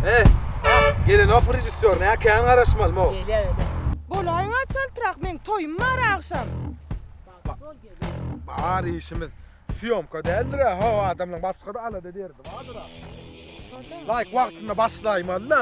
Eh, gelen ok rejissýor, näkäň garaşmaly mo. Gelýä, gelýä. Bolaýyň açaltrak, meň toýum bar agşam. Bar işimiz. Syýomka däldir-ä, ho adamlaň başga-da alada derdi bardyr-a. Laýyk wagtynda başlaýmaly-da.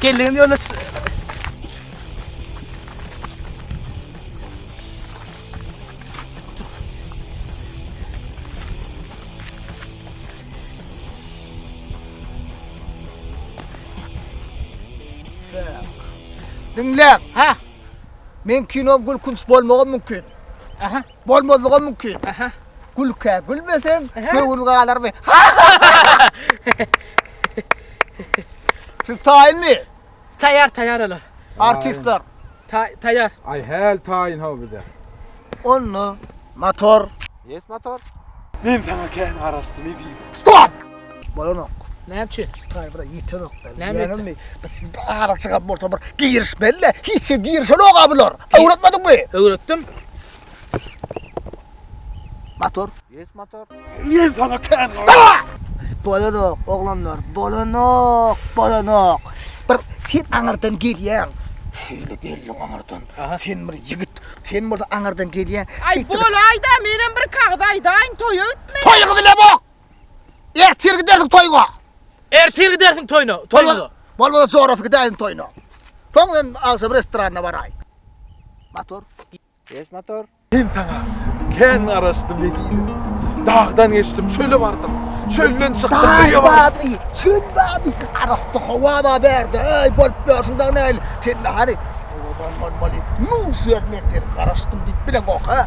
Geldim yolda Dinle. Ha. Men kino gülkünç bolmagam mümkin. Aha. Bolmazlygam mümkin. Gülkä gülmeseň, göwün galarmy? Siz taýynmy? Taýýar, taýýar olar. Artistler. Taý, taýýar. Aý häl taýyn haw bize. Onda motor. Ýes motor. Men saňa kän garaşdym, eziz. Stop! Bolanok. Näme üçin? Taý bir ýetenok. Näme ýetenok? Biz bir ara çykan bolsa bir girişmeli. Hiç kim girişenok abylar. Öwretmediňmi? Öwretdim. Motor. Yes motor. Ýen sana kän. Bolanok oglanlar. Bolanok. Bolanok. Bir sen aňardan gelýäň. Şeýle gelýän aňardan. Sen bir ýigit. Sen bolsa aňardan gelýäň. Aý bol aýda, menem bir kagyz aýdaýyn, toýa gitmeli. Toýuňy bilemok. Ertir gidersiň toýga. Ertir gidersiň toýna, toýna. Bolmasa jorasy gidäýiň toýna. Soň men agşam restorana baraý. Motor. Geç motor. Men saňa kän garaşdym wekil. Dagdan geçdim, çöle bardym. Çölden çykdym, öýe bardym. Çöl bady, arassa howa bar bärde. Öý bolup ýörsüň dagy näl? Sen nähali? Owadan bolmaly. Nu, şu ýer men seni garaşdym diýip bileňok, ha?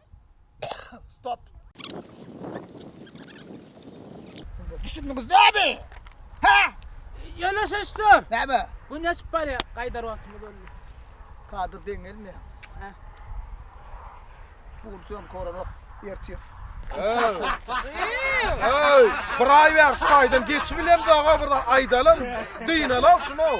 Stop. Düşündüňiz näme? Ha? Ýöne şeşdir. Näme? Gün ýaşyp barýar, gaýdar wagtymyz boldy. Kadyr deň gelme. Ha. Bugün sen korarak ertir. Ey, bir ay ver şu aydan geçip bilemdi ağa burada aydalan. Dynala şunu.